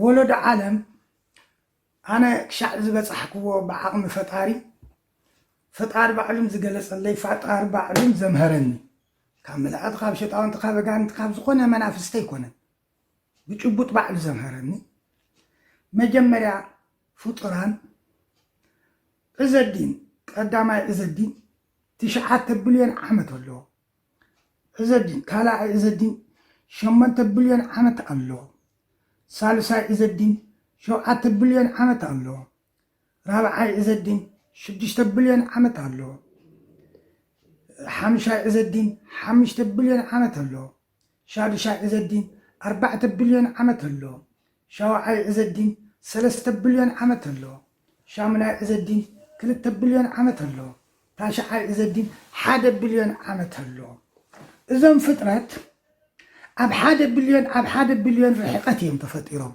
ወለዶ ዓለም ኣነ ክሻዕ ዝበፃሕክዎ ብዓቕሚ ፈጣሪ ፈጣሪ ባዕሉን ዝገለፀለይ ፈጣሪ ባዕሉን ዘምሀረኒ ካብ መላእክቲ ካብ ሸጣውንቲ ካብ ኣጋንንቲ ካብ ዝኾነ መናፍስቲ ኣይኮነን ብጭቡጥ ባዕሉ ዘምሀረኒ መጀመርያ ፍጡራን ዕዘዲን ቀዳማይ ዕዘዲን ትሽዓተ ብልዮን ዓመት ኣሎ። ዕዘዲን ካልኣይ ዕዘዲን ሸሞንተ ብልዮን ዓመት ኣሎ። ሳልሳይ ዕዘዲን ሸውዓተ ብልዮን ዓመት ኣሎ። ራብዓይ ዕዘዲን ሽዱሽተ ብልዮን ዓመት ኣሎ። ሓምሻይ ዕዘዲን ሓምሽተ ብልዮን ዓመት ኣሎ። ሻዱሻይ ዕዘዲን ኣርባዕተ ብልዮን ዓመት ኣሎ። ሻውዓይ ዕዘዲን ሰለስተ ብልዮን ዓመት ኣሎ። ሻሙናይ ዕዘዲን ክልተ ብልዮን ዓመት ኣሎ። ታሽዓይ ዕዘዲን ሓደ ብልዮን ዓመት ኣሎ። እዞም ፍጥረት ኣብ ሓደ ብልዮን ኣብ ሓደ ብልዮን ርሕቐት እዮም ተፈጢሮም።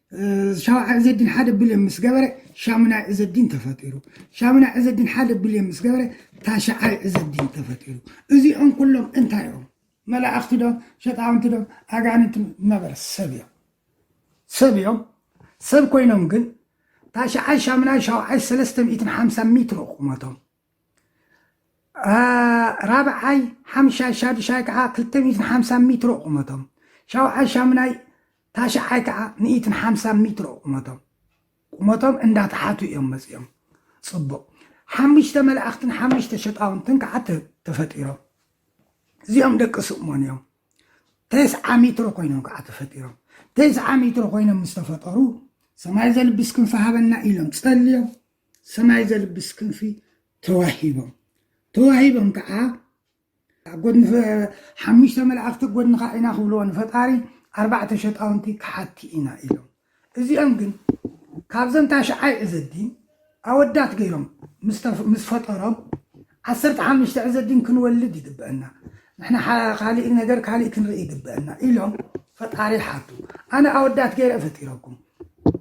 ሻውዓይ ዕዘዲን ሓደ ብልዮን ምስ ገበረ ሻሙናይ ዕዘዲን ተፈጢሩ። ሻሙናይ ዕዘዲን ሓደ ብልዮን ምስ ገበረ ታሽዓይ ዕዘዲን ተፈጢሩ። እዚኦም ኩሎም እንታይ እዮም? መላእኽቲ ዶ ሸጣውንቲ ዶ ኣጋንንቲ ዶ? ነበር ሰብ እዮም ሰብ እዮም ሰብ ኮይኖም ግን ታሽዓይ ሻሙናይ ሻውዓይ ሰለስተ ሚእትን ሓምሳን ሜትሮ ቁመቶም ራብዓይ ሓምሻይ ሻዱሻይ ከዓ ክልተ ሚእትን ሓምሳን ሚትሮ ቁመቶም ሻውዓይ ሻሙናይ ታሽዓይ ከዓ ሚእትን ሓምሳን ሚትሮ ቁመቶም ቁመቶም እንዳተሓቱ እዮም መፂኦም ፅቡቅ ሓሙሽተ መላእኽትን ሓሙሽተ ሸጣውንትን ከዓ ተፈጢሮም እዚኦም ደቂ ስእሞን እዮም ተስዓ ሚትሮ ኮይኖም ከዓ ተፈጢሮም ተስዓ ሚትሮ ኮይኖም ምስ ተፈጠሩ ሰማይ ዘልብስ ክንፊ ሃበና ኢሎም ጸልዮም ሰማይ ዘልብስ ክንፊ ተዋሂቦም። ተዋሂቦም ከዓ ኣብ ጎድኒ ሓሙሽተ መላእኽቲ ኣብ ጎድንኻ ኢና ክብልዎ ንፈጣሪ ኣርባዕተ ሸጣውንቲ ከሓድቲ ኢና ኢሎም። እዚኦም ግን ካብዘን ታሽዓይ ዕዘዲን ኣወዳት ገይሮም ምስ ፈጠሮም ዓሰርተ ሓሙሽተ ዕዘዲን ክንወልድ ይግበአና፣ ንሕና ካሊእ ነገር ካሊእ ክንርኢ ይግበአና ኢሎም ፈጣሪ ሓቱ። ኣነ ኣወዳት ገይረ ፈጢረኩም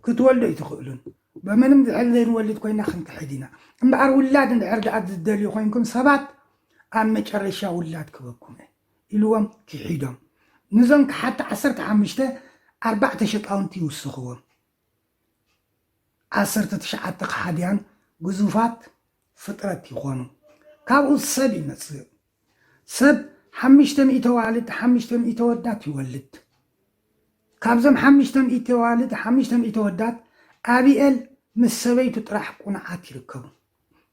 ክትወልዱ ኣይትኽእሉን በመንም ዝሕል ዘይንወልድ ኮይና ክንክሕድ ኢና እምበኣር ውላድ እንድሕር ደኣ ዝደልዩ ኮይንኩም ሰባት ኣብ መጨረሻ ውላድ ክበኩም እየ ኢልዎም ኪሒዶም ንዞም ከሓድቲ ዓሰርተ ሓሙሽተ ኣርባዕተ ሸጣውንቲ ይውስኽዎም ዓሰርተ ትሽዓተ ከሓድያን ግዙፋት ፍጥረት ይኾኑ ካብኡ ሰብ ይመጽእ ሰብ ሓምሽተ ሚእቲ ኣዋልድ ሓምሽተ ሚእቲ ኣወዳት ይወልድ። ካብዞም ሓምሽተ ሚእቲ ኣዋልድ ሓምሽተ ሚእቲ ኣወዳት ኣቢኤል ምስ ሰበይቱ ጥራሕ ቁኑዓት ይርከቡ።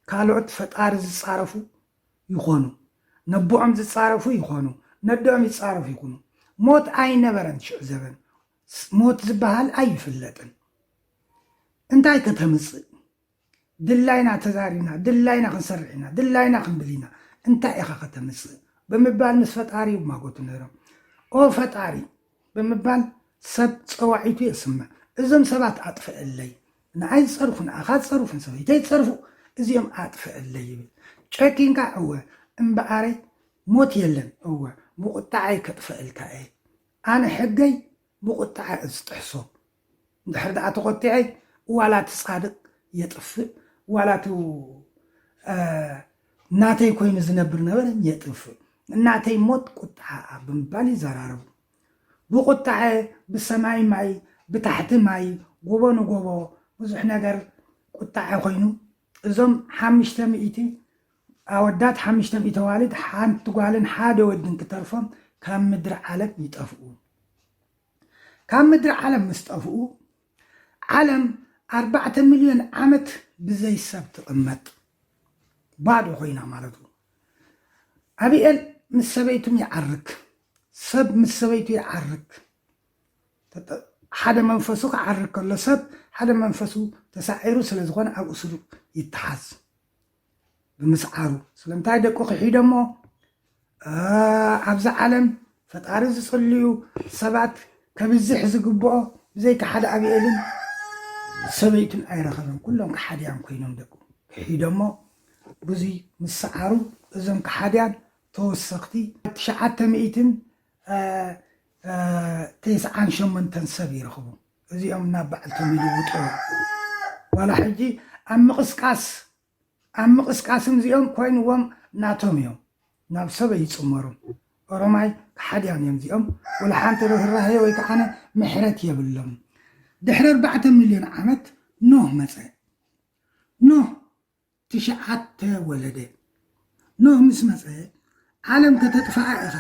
ካልኦት ፈጣሪ ዝጻረፉ ይኾኑ፣ ነቦኦም ዝጻረፉ ይኾኑ፣ ነደኦም ይጻረፉ ይኹኑ። ሞት ኣይነበረን ሽዑ ዘበን፣ ሞት ዝበሃል ኣይፍለጥን። እንታይ ከተምጽእ? ድላይና ተዛሪብና ድላይና ክንሰርሕ ኢና ድላይና ክንብል ኢና እንታይ ኢኻ ከተምጽእ ብምባል ምስ ፈጣሪ ይማጎቱ ነይሮም። ኦ ፈጣሪ ብምባል ሰብ ጸዋዒቱ የስምዕ። እዞም ሰባት ኣጥፍእለይ፣ ንኣይ ዝጸርፉ ንኣኻ ዝጸርፉ ንሰበይተይ ዝጸርፉ እዚኦም ኣጥፍእለይ ይብል። ጨኪንካ እወ እምበኣረይ ሞት የለን እወ ብቑጥዓይ ከጥፍእልካ እየ። ኣነ ሕገይ ብቑጥዓ እየ ዝጥሕሶ እንድሕር ደኣ ተኾቲዐይ ዋላ እቲ ጻድቅ የጥፍእ ዋላ እቲ ናተይ ኮይኑ ዝነብር ነበረ የጥፍእ ናተይ ሞት ቁጥዓኣ ብምባል ይዘራረቡ። ብቁጥዐ ብሰማይ ማይ ብታሕቲ ማይ ጎቦ ንጎቦ ብዙሕ ነገር ቁጥዐ ኮይኑ እዞም ሓምሽተ ሚእቲ ኣወዳት ሓምሽተ ሚእቲ ኣዋልድ ሓንቲ ጓልን ሓደ ወድን ክተርፎም ካብ ምድሪ ዓለም ይጠፍኡ። ካብ ምድሪ ዓለም ምስ ጠፍኡ፣ ዓለም ኣርባዕተ ሚልዮን ዓመት ብዘይ ሰብ ትቕመጥ፣ ባዶ ኮይና ማለቱ። ኣቢኤል ምስ ሰበይቱም ይዓርክ፣ ሰብ ምስ ሰበይቱ ይዓርክ፣ ሓደ መንፈሱ ክዓርክ ከሎ፣ ሰብ ሓደ መንፈሱ ተሳዒሩ ስለ ዝኾነ ኣብኡ ስሩዕ ይተሓዝ። ብምስዓሩ ስለምንታይ ደቁ ክሒዶሞ ኣብዚ ዓለም ፈጣሪ ዝፅልዩ ሰባት ከብዝሕ ዝግብኦ ብዘይካ ሓደ ኣብኤልን ሰበይቱን ኣይረኸበን ኩሎም ከሓድያን ኮይኖም ደቁ ክሒዶሞ ብዙይ ምስዓሩ እዞም ከሓድያን ተወሰኽቲ ትሽዓተ ሚእትን ተስዓን ሸመንተን ሰብ ይረኽቡ እዚኦም ናብ ባዕልቶም ይልውጥዋ ዋላ ሕጂ ኣብ ምቕስቃስ ኣብ ምቕስቃስም እዚኦም ኮይንዎም ናቶም ኢዮም ናብ ሰብ ኣይጽመሩን ኦሮማይ ከሓድያን ኢዮም እዚኦም ወላ ሓንቲ ርህራሄ ወይ ከዓነ ምሕረት የብሎምን ድሕሪ ኣርባዕተ ሚልዮን ዓመት ኖህ መጸ ኖህ ትሽዓተ ወለደ ኖህ ምስ መጸ ዓለም ከተጥፍኣ ኢኻ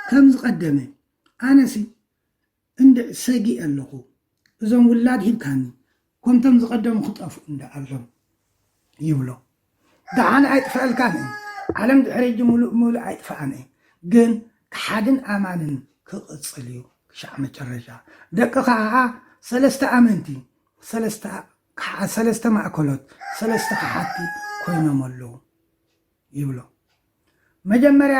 ከም ዝቐደመ ኣነሲ እንድዕ ሰጊእ ኣለኹ እዞም ውላድ ሂብካኒ ኮምቶም ዝቀደሙ ክጠፍኡ እንዳ ኣሎም ይብሎ ዳሓን ኣይጥፈኣልካን እም ዓለም ድሕሪ ሕጂ ሙሉእ ብሙሉእ ኣይጥፋኣን እም ግን ካሓድን ኣማንን ክቅጽል እዩ ክሻዕ መጨረሻ ደቅኻ ካኣ ሰለስተ ኣመንቲ ሰለስተ ካሓ ሰለስተ ማእከሎት ሰለስተ ካሓድቲ ኮይኖም ኣለው ይብሎ መጀመርያ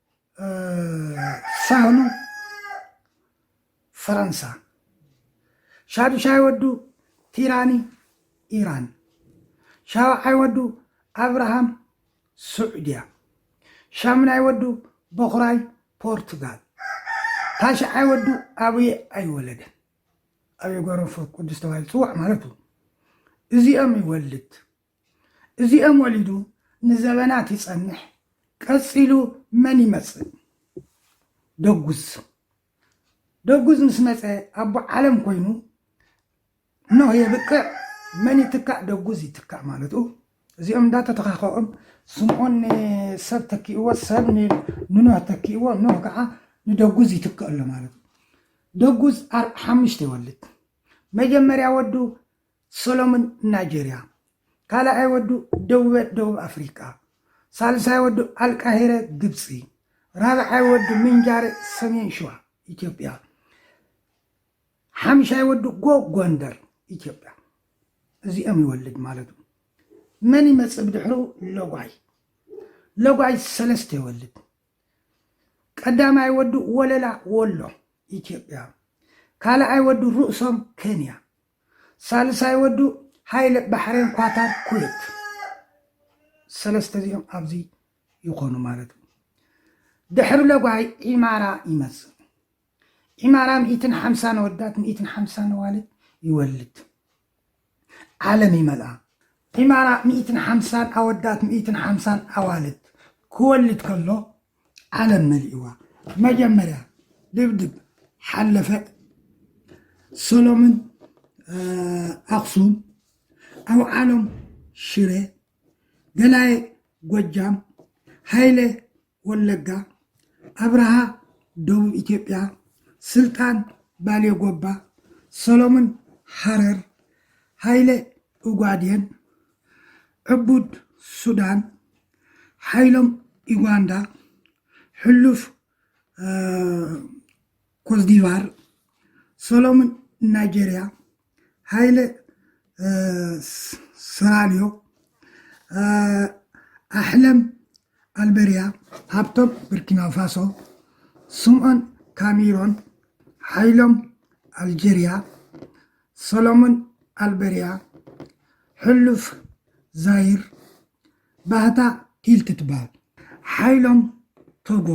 ሳህሉ ፈረንሳ ሻዱሻይ ወዱ ቲራኒ ኢራን ሻውዓይ ወዱ ኣብርሃም ስዑድያ ሻምናይ ወዱ በኹራይ ፖርቱጋል ታሽዓይ ወዱ ኣብየ ኣይወለደን ኣብየ ጓሮንፎር ቅዱስ ተባሂሉ ፅዋዕ ማለት እዩ እዚኦም ይወልድ እዚኦም ወሊዱ ንዘበናት ይጸንሕ ቀጺሉ መን ይመጽእ ደጉዝ ደጉዝ ምስ መጸ ኣቦ ዓለም ኮይኑ ኖህ የብቅዕ መን ይትካእ ደጉዝ ይትካእ ማለቱ እዚኦም እንዳተተኻኸኦም ስምዖን ንሰብ ተኪእዎ ሰብ ንኖህ ተኪእዎ ኖህ ከዓ ንደጉዝ ይትክእ ኣሎ ማለት እዩ ደጉዝ ሓሙሽተ ይወልድ መጀመርያ ወዱ ሰሎሙን ናይጀርያ፣ ካልኣይ ወዱ ደቡበ ደቡብ ኣፍሪቃ፣ ሳልሳይ ወዱ ኣልቃሂረ ግብጺ፣ ራብዓይ ወዱ ምንጃረ ሰሜን ሽዋ ኢትዮጵያ፣ ሓምሻይ ወዱ ጎ ጎንደር ኢትዮጵያ እዚኦም ይወልድ ማለቱ። መን ይመጽእ ብድሕሩ? ሎጓይ ሎጓይ ሰለስተ ይወልድ። ቀዳማይ ወዱ ወለላ ወሎ ኢትዮጵያ፣ ካልኣይ ወዱ ርእሶም ከንያ ሳልሳይ ወዱ ሃይለ ባሕሬን ኳታር ኩዌት ሰለስተ እዚኦም ኣብዚ ይኾኑ ማለት እዩ ድሕሪ ለጓይ ኢማራ ይመጽእ ኢማራ ሚእትን ሓምሳ ነወዳት ሚእትን ሓምሳ ነዋልድ ይወልድ ዓለም ይመልኣ ኢማራ ሚእትን ሓምሳን ኣወዳት ሚእትን ሓምሳን ኣዋልድ ክወልድ ከሎ ዓለም መሊእዋ መጀመርያ ድብድብ ሓለፈ ሰሎምን ኣክሱም ኣውዓሎም ሽረ ገላየ ጎጃም ሃይለ ወለጋ ኣብርሃ ደቡብ ኢትዮጵያ ስልጣን ባሌ ጎባ ሰሎምን ሃረር ሃይለ ኡጋዴን ዕቡድ ሱዳን ሓይሎም ዩጋንዳ ሕሉፍ ኮትዲቫር ሰሎምን ናይጀርያ ሃይለ ሰራልዮ ኣሕለም ኣልበርያ ሃብቶም ብርኪናፋሶ ስምዖን ካሜሮን ሓይሎም ኣልጀርያ ሰሎሞን ኣልበርያ፣ ሕሉፍ ዛይር፣ ባህታ ሂልቲ ትበሃል። ሓይሎም ቶጎ፣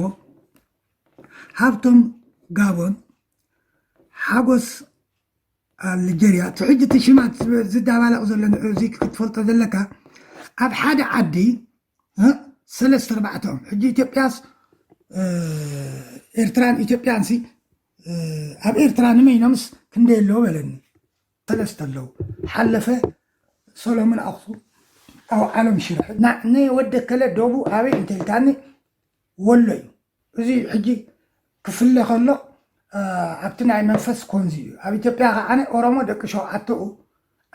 ሃብቶም ጋቦን፣ ሓጎስ ኣልጀርያ፣ እቲ ሕጂ እቲ ሽማት ዝዳባለቕ ዘሎ ንዑ እዚ ክትፈልጦ ዘለካ ኣብ ሓደ ዓዲ ሰለስተ ኣርባዕተ እዮም ሕጂ ኢትዮጵያስ ኤርትራን ኢትዮጵያን ሲ ኣብ ኤርትራ ንመይኖምስ ክንደይ ኣለዎ በለኒ ሰለስተ ኣለዉ ሓለፈ ሰሎሙን ኣክሱ ኣብ ዓለም ሽረ ንወደ ከለ ደቡ ኣበይ እንተልካኒ ወሎ እዩ እዚ ሕጂ ክፍለ ከሎ ኣብቲ ናይ መንፈስ ኮንዚ እዩ ኣብ ኢትዮጵያ ከዓነ ኦሮሞ ደቂ ሸውዓተኡ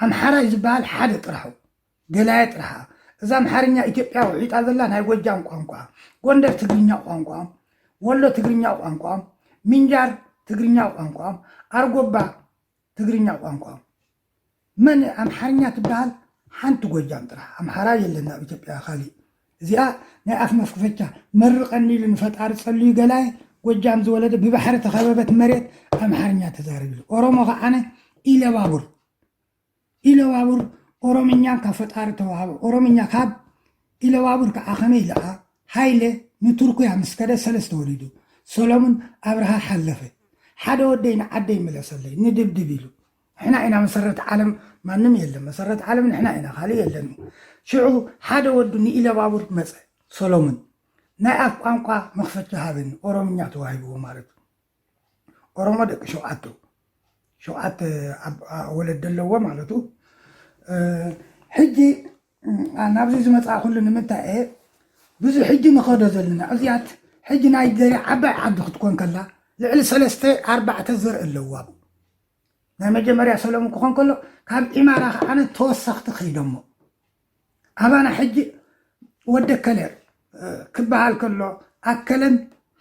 ኣምሓራይ ዝበሃል ሓደ ጥራሑ ገላየ ጥርሓ እዛ ኣምሓርኛ ኢትዮጵያ ውሒጣ ዘላ ናይ ጎጃም ቋንቋ፣ ጎንደር ትግርኛ ቋንቋኦም፣ ወሎ ትግርኛ ቋንቋኦም፣ ምንጃር ትግርኛ ቋንቋኦም፣ ኣርጎባ ትግርኛ ቋንቋኦም። መን እያ ኣምሓርኛ ትበሃል? ሓንቲ ጎጃም ጥራሕ ኣምሓራ የለን ኣብ ኢትዮጵያ ካሊእ። እዚኣ ናይ ኣፍ መፍክፈቻ መርቀኒ ኢሉ ንፈጣሪ ጸልዩ ገላየ ጎጃም ዝወለደ ብባሕሪ ተኸበበት መሬት ኣምሓርኛ ተዛርብ ኢሉ ኦሮሞ ከዓነ ኢለባቡር ኢለባቡር ኦሮምኛ ካብ ፈጣሪ ተዋህበ ኦሮምኛ ካብ ኢለባቡር ከኣ ከመይ ደኣ ሃይለ ንቱርኩያ ምስ ከደ ሰለስተ ወሊዱ ሰሎሙን ኣብርሃ ሓለፈ ሓደ ወደይ ንዓደይ ምለሰለይ ንድብድብ ኢሉ ንሕና ኢና መሰረት ዓለም ማንም የለን መሰረት ዓለም ንሕና ኢና ካልእ የለን ሽዑ ሓደ ወዱ ንኢለባቡር መጸ ሰሎሙን ናይ ኣፍ ቋንቋ መኽፈቻ ሃበኒ ኦሮምኛ ተዋሂብዎ ማለት እዩ ኦሮሞ ደቂ ሸውዓቱ ሸውዓተ ወለዲ ኣለዎ ማለቱ ሕጂ ናብዚ ዝመፅእኩሉ ንምንታይ እየ ብዙ ሕጂ ንኸዶ ዘለና እዚኣት ሕጂ ናይ ገሬ ዓባይ ዓዲ ክትኮን ከላ ልዕሊ ሰለስተ ኣርባዕተ ዘርኢ ኣለዋ ናይ መጀመርያ ሰለሙን ክኾን ከሎ ካብ ኢማራ ከዓነ ተወሰኽቲ ከይዶሞ ኣባና ሕጂ ወዲ ኣከለ ክበሃል ከሎ ኣከለን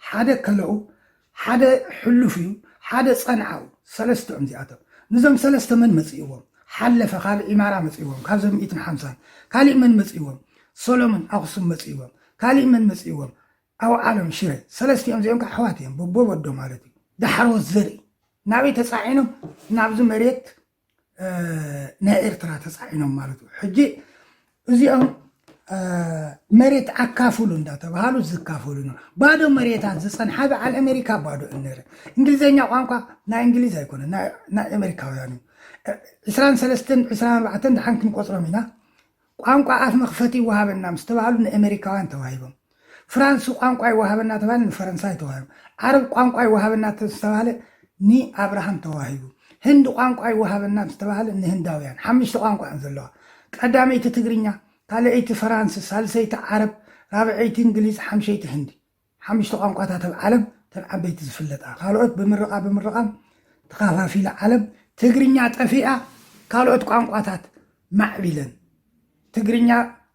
ሓደ ከለኡ ሓደ ሕሉፍ እዩ ሓደ ጸንዓው ሰለስተ እዮም እዚኣቶም ንዞም ሰለስተ መን መጽእዎም ሓለፈ ካልእ ኢማራ መጽእዎም ካብዞም ሚእትን ሓምሳን ካሊእ መን መጽእዎም ሰሎሞን ኣኽሱም መጽእዎም ካሊእ መን መጽእዎም ኣውዓሎም ሽረ ሰለስቲኦም እዚኦም ከዓ ኣሕዋት እዮም በቦ ወዶ ማለት እዩ ዳሕሮት ዘርኢ ናበይ ተጻዒኖም ናብዚ መሬት ናይ ኤርትራ ተፃዒኖም ማለት እዩ ሕጂ እዚኦም መሬት ኣካፍሉ እንዳተባሃሉ ዝካፈሉ ነው። ባዶ መሬታት ዝፀንሓ በዓል ኣሜሪካ ባዶ እነረ እንግሊዘኛ ቋንቋ ናይ እንግሊዝ ኣይኮነ ናይ ኣሜሪካውያን እዩ ዕስራን ሰለስትን ዕስራን ኣርባዕተን ድሓን ክንቆፅሮም ኢና ቋንቋ ኣፍ መኽፈቲ ይወሃበና ምስ ተባህሉ ንኤመሪካውያን ተዋሂቦም። ፍራንስ ቋንቋ ይወሃበና ተባሂሉ ንፈረንሳይ ተዋሂቡ። ዓረብ ቋንቋ ይወሃበና ምስ ተባህለ ንኣብርሃም ተዋሂቡ። ህንድ ቋንቋ ይወሃበና ምስ ተባህለ ንህንዳውያን። ሓምሽተ ቋንቋ እየን ዘለዋ። ቀዳመይቲ ትግርኛ፣ ካልኣይቲ ፈራንስ፣ ሳልሰይቲ ዓረብ፣ ራብዐይቲ እንግሊዝ፣ ሓምሸይቲ ህንዲ። ሓምሽተ ቋንቋታት ኣብ ዓለም እተን ዓበይቲ ዝፍለጣ ካልኦት ብምርቓ ብምርቓም ተኻፋፊላ ዓለም ትግርኛ ጠፊኣ ካልኦት ቋንቋታት ማዕቢለን ትግርኛ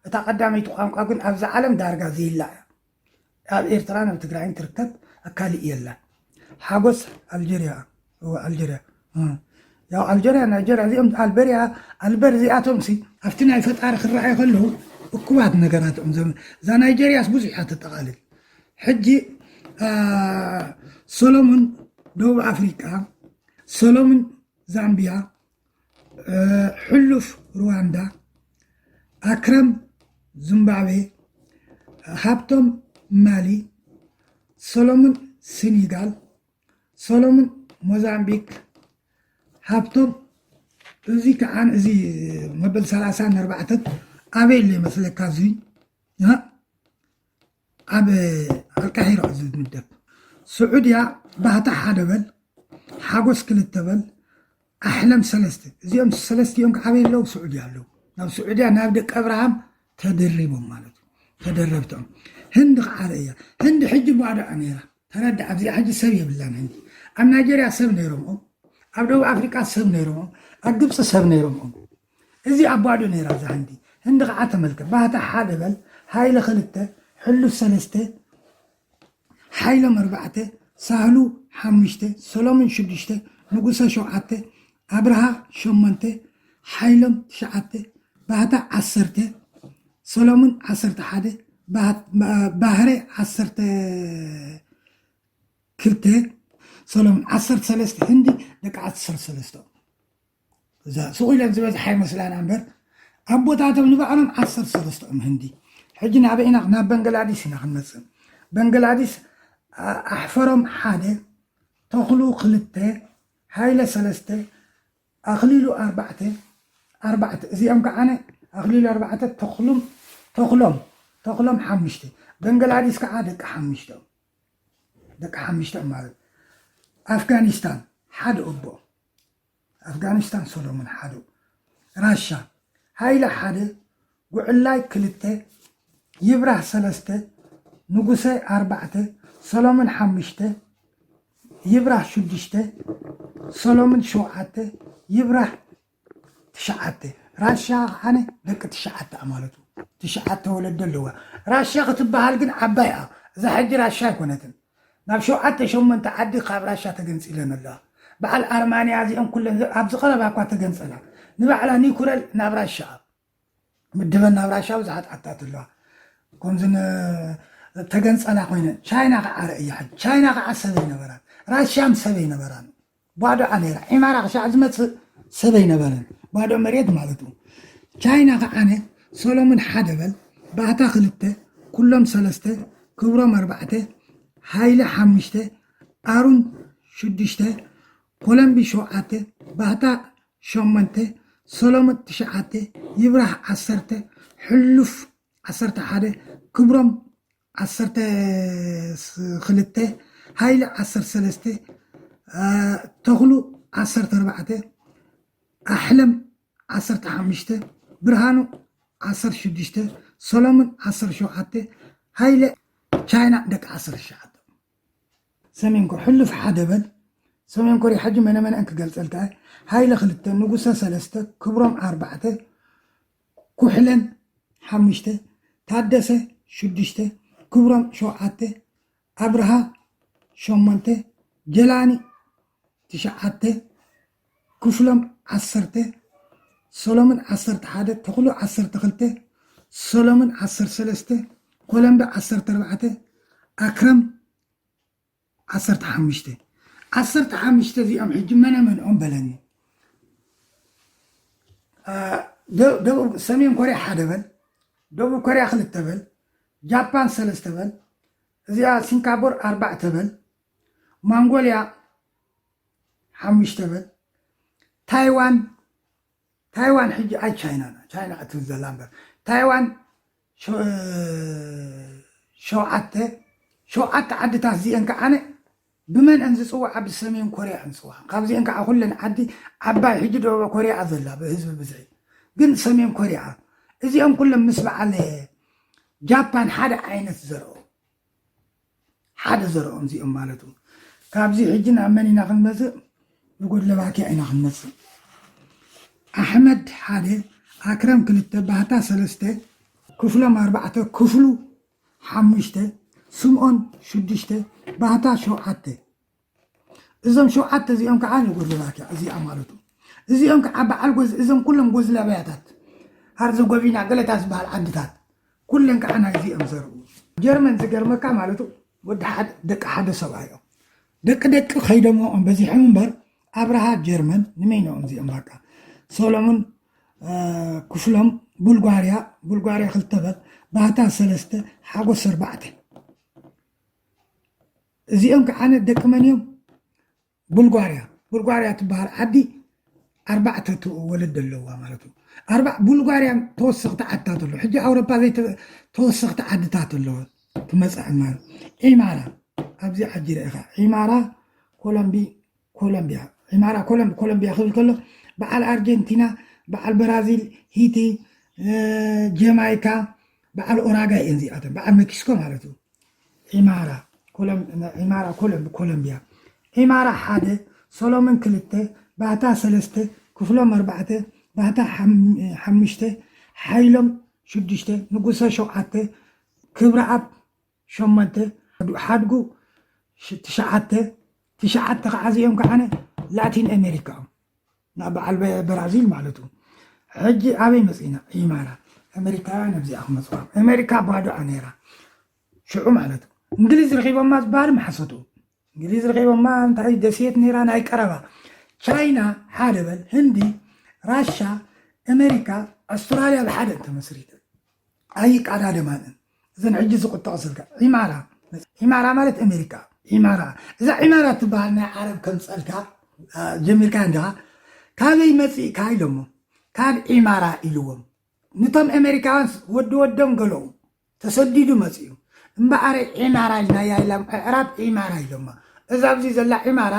እታ ቀዳመይቲ ቋንቋ ግን ኣብዚ ዓለም ዳርጋ ዘይላ እያ ኣብ ኤርትራን ኣብ ትግራይን ትርከብ ኣካሊእ የላን ሓጎስ ኣልጀርያ እወ ኣልጀርያ ያው ኣልጀርያ ናይጀርያ እዚኦም ኣልበርያ ኣልበር እዚኣቶም ሲ ኣብቲ ናይ ፈጣሪ ክረኣዩ ከለዉ እኩባት ነገራት እዮም ዘም እዛ ናይጀርያስ ብዙሕ እያ ተጠቓልል ሕጂ ሰሎሙን ደቡብ ኣፍሪቃ ሰሎሙን ዛምቢያ ሕሉፍ ሩዋንዳ ኣክረም ዚምባብዌ ሃብቶም ማሊ ሰሎሙን ሲኒጋል ሰሎሙን ሞዛምቢክ ሃብቶም እዚ ከዓ እዚ መበል ሰላሳ ኣርባዕተን ኣበይ ኣሎ ይመስለካ እዚ ኣብ ኣልቃሒራ እዚ ዝምደብ ስዑድያ ባህታ ሓደ በል ሓጎስ ክልተ በል ኣሕለም ሰለስተ እዚኦም ሰለስቲኦም ከ ኣበይ ኣለዉ ስዑድያ ኣለዉ ናብ ስዑድያ ናብ ደቂ ኣብርሃም ተደሪቦም ማለት እዩ ተደረብቶም ህንዲ ከዓ ርእያ ህንዲ ሕጂ ባዶኣ ነይራ ተረዳ ኣብዚኣ ሕጂ ሰብ የብላን ህንዲ ኣብ ናይጀርያ ሰብ ነይሮም ኣብ ደቡብ ኣፍሪቃ ሰብ ነይሮም ኣብ ግብፂ ሰብ ነይሮም እዚ ኣብ ባዶ ነይራ እዛ ህንዲ ህንዲ ከዓ ተመልከ ባህታ ሓደ በል ሃይለ ክልተ ሕሉፍ ሰለስተ ሓይሎም ኣርባዕተ፣ ሳህሉ ሓሙሽተ፣ ሰሎሙን ሽዱሽተ፣ ንጉሰ ሸውዓተ፣ ኣብርሃ ሸሞንተ፣ ሓይሎም ትሽዓተ፣ ባህታ ዓሰርተ፣ ሰሎሙን ዓሰርተ ሓደ፣ ባህሬ ዓሰርተ ክልተ፣ ሰሎሙን ዓሰርተ ሰለስተ፣ ህንዲ ደቂ ዓሰርተ ሰለስተ። እዛ ስቕ ኢለን ዝበዝሓ ይመስላና እምበር ኣቦታቶም ንባዕሎም ዓሰርተ ሰለስተኦም ህንዲ ሕጂ ናበይ ኢና ናብ በንግላዲስ ኢና ክንመፅእ በንግላዲስ ኣሕፈሮም ሓደ ተኽሉ ክልተ ሃይለ ሰለስተ ኣኽሊሉ ኣርባዕተ ኣርባዕተ እዚኦም ከዓነ ኣኽሊሉ ኣርባዕተ ተኽሉም ተኽሎም ተኽሎም ሓሙሽተ በንግላዲስ ከዓ ደቂ ሓሙሽተኦም ደቂ ሓሙሽተኦም ማለት ኣፍጋኒስታን ሓደ ኦቦ ኣፍጋኒስታን ሰሎሙን ሓደው ራሻ ሃይለ ሓደ ጉዕላይ ክልተ ይብራህ ሰለስተ ንጉሰ ኣርባዕተ ሰሎሙን ሓሙሽተ ይብራህ ሽዱሽተ ሰሎሙን ሸውዓተ ይብራህ ትሽዓተ ራሻ ከዓነ ደቂ ትሽዓተ እያ ማለት እዩ ትሽዓተ ወለዶ ኣለዋ ራሻ ክትበሃል ግን ዓባይ እያ እዛ ሕጂ ራሻ ኣይኮነትን ናብ ሸውዓተ ሸሞንተ ዓዲ ካብ ራሻ ተገንጺለን ኣለዋ። በዓል ኣርማንያ እዚኤን ኩለን ኣብዚ ቀረባ እኳ ተገንጸላ። ንባዕላ ኒኩረል ናብ ራሻ ምድበን ናብ ራሻ ብዙሓት ዓድታት ኣለዋ። ከምዚ ን ተገንጸላ ኮይነን ቻይና ከኣ ረእያ ሕጂ ቻይና ከኣ ሰብ ኣይነበራን ራሻም ሰብ ኣይነበራን። ባዶ ዓሌራ ዒማራ ክሻዕ ዝመጽእ ሰብ ኣይነበረን ባዶ መሬት ማለቱ ቻይና ክዓነ ሰሎሙን ሓደ በል ባህታ ክልተ ኩሎም ሰለስተ ክብሮም ኣርባዕተ ሃይለ ሓሙሽተ ኣሩን ሽዱሽተ ኮለምቢ ሸውዓተ ባህታ ሸሞንተ ሰሎሙን ትሽዓተ ይብራህ ዓሰርተ ሕሉፍ ዓሰርተ ሓደ ክብሮም ዓሰርተ ክልተ ሃይለ ዓሰርተ ሰለስተ ተኽሉ ዓሰርተ ኣርባዕተ ኣሕለም ዓሰርተ ሓሙሽተ ብርሃኑ ዓሰርተ ሽዱሽተ ሰሎሙን ዓሰርተ ሸውዓተ ሃይለ ቻይና ደቂ ዓሰርተ ትሽዓተ ሰሜን ኮር ሕሉፍ ሓደ በል ሰሜን ኮርያ ሕጂ መነመነአን ክገልፀልካ ሃይለ ክልተ ንጉሰ ሰለስተ ክብሮም ኣርባዕተ ኩሕለን ሓሙሽተ፣ ታደሰ ሽዱሽተ፣ ክብሮም ሸውዓተ፣ ኣብርሃ ሸሞንተ፣ ጀላኒ ትሽዓተ፣ ክፍሎም ዓሰርተ፣ ሰሎሙን ዓሰርተ ሓደ፣ ተኽሉ ዓሰርተ ክልተ፣ ሰሎሙን ዓሰርተ ሰለስተ፣ ኮለምቢ ዓሰርተ ኣርባዕተ፣ ኣክረም ዓሰርተ ሓሙሽተ ዓሰርተ ሓሙሽተ እዚኦም ሕጂ መነ መንኦም በለኒ ደቡብ ሰሜን ኮርያ ሓደ በል ደቡብ ኮርያ ክልተ በል ጃፓን ሰለስተ በል እዚኣ ሲንካቡር ኣርባዕተ በል ማንጎልያ ሓሙሽተ በል ታይዋን ታይዋን ሕጂ ኣይ ቻይና እያ ቻይና እያ ትብል ዘላ እምበር ታይዋን ሸውዓተ ሸውዓተ ዓድታት እዚኤን ከዓነ ብመን እን ዝፅዋዓ ብሰሜን ኮርያ እን ዝፅዋዓ ካብዚኤን ከዓ ኩለን ዓዲ ዓባይ ሕጂ ደቡብ ኮርያ እያ ዘላ ብህዝቢ ብዝሒ ግን ሰሜን ኮርያ እዚኦም ኩሎም ምስ በዓል ጃፓን ሓደ ዓይነት ዘርኦ ሓደ ዘርኦም እዚኦም ማለቱ ካብዚ ሕጂ ናብ መን ኢና ክንመጽእ ንጎድለባኪያ ኢና ክንመጽእ ኣሕመድ ሓደ ኣክረም ክልተ ባህታ ሰለስተ ክፍሎም ኣርባዕተ ክፍሉ ሓሙሽተ ስምኦን ሽዱሽተ ባህታ ሸውዓተ። እዞም ሸውዓተ እዚኦም ከዓ ንጉልላት እያ እዚኣ ማለቱ እዚኦም ከዓ በዓል ጎዝ እዞም ኩሎም ጎዝላብያታት ሀርዘጎቪና ገለታ ዝበሃል ዓድታት ኩለን ከዓ ናይዚ እዮም ዘርኡ ጀርመን ዝገርመካ ማለቱ ወዲ ሓደ ደቂ ሓደ ሰብኣይ እዮም ደቂ ደቂ ከይደሞኦም በዚሖም እምበር ኣብርሃ ጀርመን ንመይኖኦም እዚኦም በቃ ሰሎሙን ክፍሎም ቡልጓርያ ቡልጓርያ ክልተ በል ባህታ ሰለስተ ሓጎስ ኣርባዕተ እዚኦም ከዓነ ደቂ መን እዮም? ቡልጓርያ፣ ቡልጓርያ ትበሃል ዓዲ ኣርባዕተ ወለዲ ኣለዋ ማለት እዩ። ኣርባ ቡልጓርያ ተወሰኽቲ ዓድታት ኣለዎ። ሕጂ ኣውሮፓ ዘይ ተወሰኽቲ ዓድታት ኣለዎ ክመጽእ ዕማን ዒማራ ኣብዚ ዓዲ ርኢኻ ዒማራ ኮሎምቢ ኮሎምብያ፣ ዒማራ ኮሎምብ፣ ኮሎምብያ ክብል ከሎ በዓል ኣርጀንቲና፣ በዓል በራዚል፣ ሂቲ፣ ጀማይካ፣ በዓል ኡራጋይ እየን እዚኣተን፣ በዓል ሜክሲኮ ማለት እዩ። ዒማራ ዒማራ ኮሎምብ፣ ኮሎምብያ፣ ዒማራ ሓደ፣ ሰሎምን ክልተ፣ ባህታ ሰለስተ፣ ክፍሎም ኣርባዕተ፣ ባህታ ሓሙሽተ፣ ሓይሎም ሽዱሽተ፣ ንጉሰ ሸውዓተ፣ ክብረኣብ ሸሞንተ ሓድጉ ትሽዓተ ትሽዓተ ከዓ እዚኦም ከዓነ ላቲን ኣሜሪካ እዮም ናብ በዓል ብራዚል ማለት እዩ ሕጂ ኣበይ መፅእና ኢማራ ኣሜሪካውያን ኣብዚኣ ክመፅዋ ኣሜሪካ ባዶኣ ነይራ ሽዑ ማለት እዩ እንግሊዝ ረኪቦማ ዝበሃል ማሓሰቱ እንግሊዝ ረኺቦማ እንታይ እዩ ደሴት ነይራ ናይ ቀረባ ቻይና ሓደ በል ህንዲ ራሻ ኣሜሪካ ኣስትራልያ ብሓደ እንተመስሪተን ኣይቃዳደማን እየን እዘን ሕጂ ዝቁጠቕ ስልካ ዒማራ ዒማራ ማለት ኣሜሪካ ዒማራ እዛ ዒማራ ትበሃል ናይ ዓረብ ከምፀልካ ጀሚርካ እንዲኻ ካበይ መፂእካ ኢሎሞ ካብ ዒማራ ኢልዎም ንቶም ኤመሪካውያንስ ወዲ ወዶም ገለዉ ተሰዲዱ መጺኡ እምበኣረ ዒማራ ኢልናያ ኢላም ኣዕራብ ዒማራ ኢሎማ እዛ ኣብዚ ዘላ ዒማራ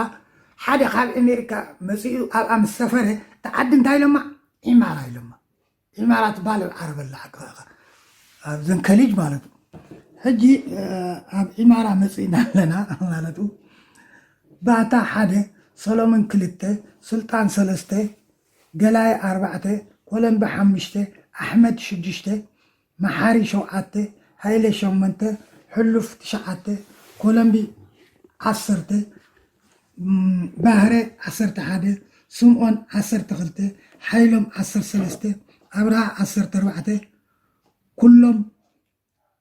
ሓደ ካብ ኤመሪካ መጺኡ ኣብኣ ምስ ሰፈረ እታ ዓዲ እንታይ ኢሎማ ዒማራ ኢሎማ ዒማራ ትበሃል ኣብ ዓረብ ኣላ ኣቅራካ ኣብዘን ከሊጅ ማለት ሕጂ ኣብ ዒማራ መጺእና ኣለና ማለት ባታ ሓደ ሰሎምን ክልተ ስልጣን ሰለስተ ገላየ ኣርባዕተ፣ ኮለምቢ ሓሙሽተ፣ ኣሕመድ ሽዱሽተ፣ መሓሪ ሸውዓተ፣ ሃይለ ሸሞንተ፣ ሕሉፍ ትሽዓተ፣ ኮለምቢ ዓሰርተ፣ ባህረ ዓሰርተ ሓደ፣ ስምኦን ዓሰርተ ክልተ፣ ሓይሎም ዓሰርተ ሰለስተ፣ ኣብርሃ ዓሰርተ ኣርባዕተ ኩሎም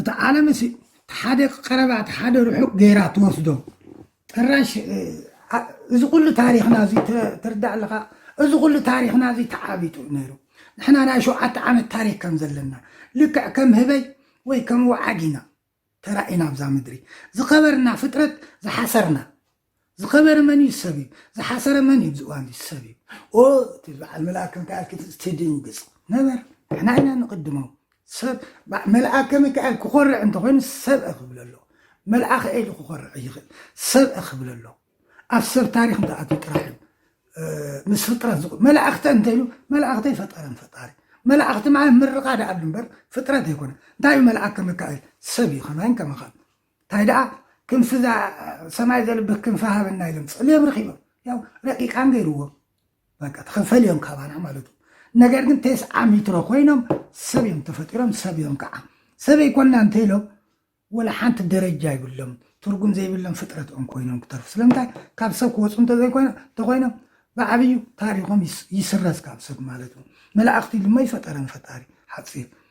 እቲ ዓለም እሲ ሓደ ቀረባ ሓደ ርሑቅ ገይራ ትወስዶ ጥራሽ እዚ ኩሉ ታሪክና እዚ ትርዳእ ኣለካ እዚ ኩሉ ታሪክና እዚ ተዓቢጡ ነይሩ ንሕና ናይ ሸውዓተ ዓመት ታሪክ ከም ዘለና ልክዕ ከም ህበይ ወይ ከም ወዓግ ኢና ተራኢና ኣብዛ ምድሪ ዝኸበርና ፍጥረት ዝሓሰርና ዝኸበረ መን እዩ ሰብ እዩ ዝሓሰረ መን እዩ ዝእዋን እዚ ሰብ እዩ ኦ እቲ በዓል መልኣከ ሚካኤል ክትዝ ትድንግፅ ነበር ንሕና ኢና ንቕድሞ ሰብ በ- መልኣከ ሚካኤል ክኾርዕ እንተኾይኑ ሰብ ክብል ኣሎ መልኣኸ ኢሉ ክኾርዕ ይኽእል ሰብ ክብል ኣሎ ኣብ ሰብ ታሪክ እንተኣትዩ ጥራሕ እዩ እ፣ ምስ ፍጥረት ዝቑ መላእኽተ እንተይሉ መላእኽተ ይፈጠረን ፈጣሪ መላእኽቲ ማለት ምርቓ ደኣ እምበር ፍጥረት ኣይኮነ እንታይ እዩ መልኣከ ሚካኤል ሰብ እዩ ከማይን ከማኻን ታይ ደኣ ክንፊ እዛ ሰማይ ዘልብህ ክንፊ ሃበና ኢሎም ጸልዮም ረኺቦም ያው ረቂቃን ገይርዎም በቃ ተኸፈል እዮም ካባና ማለት እዩ ነገር ግን ቴስዓ ሚትሮ ኮይኖም ሰብ እዮም ተፈጢሮም ሰብ እዮም ከዓ ሰበይ ኮና እንተኢሎም ወላ ሓንቲ ደረጃ ይብሎም ትርጉም ዘይብሎም ፍጥረት እዮም ኮይኖም ክተርፉ ስለምንታይ ካብ ሰብ ክወፁ እንተዘይኮይኖም ብዓብዩ ታሪኮም ይስረዝ ካብ ሰብ ማለት እዩ መላእኽቲ ድማ ይፈጠረን ፈጣሪ ሓፂር